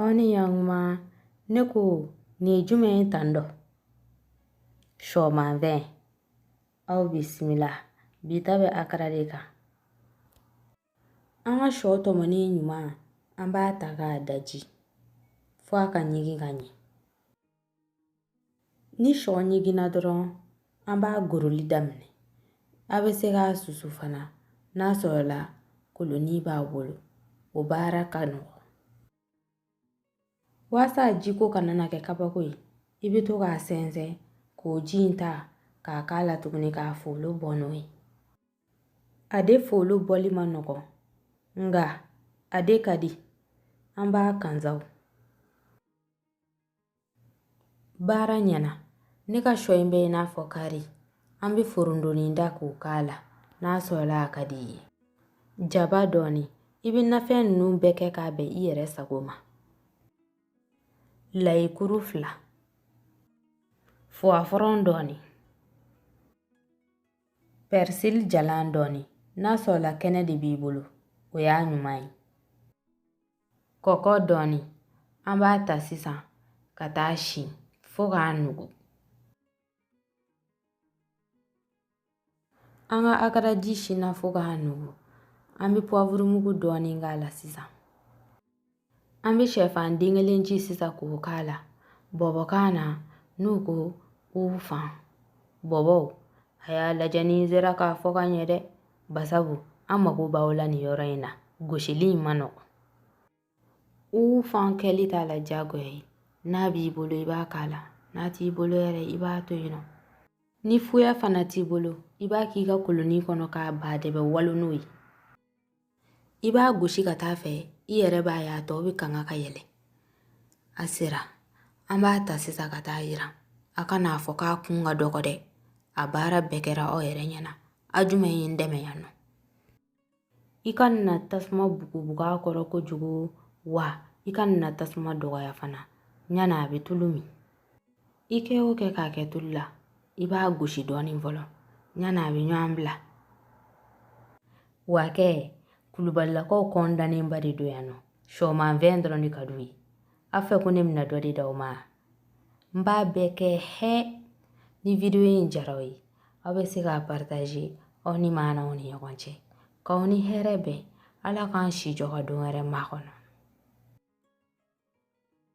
Aw ni ɲankuma ne ko nin ye jumɛn ye tan dɔ sɔmanfɛn aw bisimila bi ta bɛ akara de kan an ka sɔ tɔmɔni ɲuman an b'a ta k'a daji fo a ka ɲigin ka ɲɛ ni sɔ ɲiginna dɔrɔn an b'a goroli daminɛ a bɛ se k'a susu fana n'a sɔrɔla koloni b'a bolo o baara ka nɔgɔn waasa jiko kana na kɛ kabako ye i bɛ to k'a sɛnsɛn k'o ji in ta k'a k'a la tuguni k'a folo bɔ n'o ye a de folo bɔli man nɔgɔn nka a de ka di an b'a kansaw baara ɲɛna ne ka sɔ in bɛ i n'a fɔ kari an bɛ forondonin ta k'o k'a la n'a sɔrɔla a ka di i ye jaba dɔɔni i bɛ nafɛn ninnu bɛɛ kɛ k'a bɛn i yɛrɛ sago ma layikuru fila fuwafɔrɔn dɔɔni pɛrisili jalan dɔɔni n'a sɔrɔla kɛnɛ de b'i bolo o y'a ɲuman ye kɔkɔ dɔɔni an b'a ta sisan ka taa si fo k'a nugu an ka akaraji sinna fo k'a nugu an bɛ puwavurumugu dɔɔni k'a la sisan an bɛ sɛfan den kelen ci sisan k'o k'a la bɔbɔkan na n'u ko ufan bɔbɔw a y'a lajɛ ni n sera k'a fɔ ka ɲɛ dɛ Basabu an mago b'aw la nin yɔrɔ in na gosili in man nɔgɔn ufan kɛli t'a la diyagoya ye n'a b'i bolo i b'a k'a la n'a t'i bolo yɛrɛ i b'a to yen nɔ ni fuya fana t'i bolo i b'a k'i ka koloni kɔnɔ k'a ba dɛbɛ walo n'o ye i b'a gosi ka taa fɛ i yɛrɛ b'a ye a tɔ bɛ kanga ka yɛlɛn a sera an b'a ta sisan ka taa yiran a kan'a fɔ k'a kun ka dɔgɔ dɛ a baara bɛɛ kɛra aw yɛrɛ ɲɛ na a jumɛn ye n dɛmɛ yan nɔ i kana tasuma bugubugu a kɔrɔ kojugu wa i kana tasuma dɔgɔya fana ɲana a bɛ tulu min i kɛ o kɛ k'a kɛ tulu la i b'a gosi dɔɔnin fɔlɔ ɲana a bɛ ɲɔgɔn bila wa kɛ kulubalilakaw kɔn dannenba de don yan nɔ sɔmanfɛn dɔrɔn de ka d'u ye a fɛ ko ne bɛna dɔ de d'aw ma n b'a bɛɛ kɛ hɛ ni wideyo in diyara aw ye aw bɛ se k'a paritaze aw ni maa n'aw ni ɲɔgɔn cɛ k'aw ni hɛrɛ bɛn ala k'an si jɔ ka don wɛrɛ makɔnɔ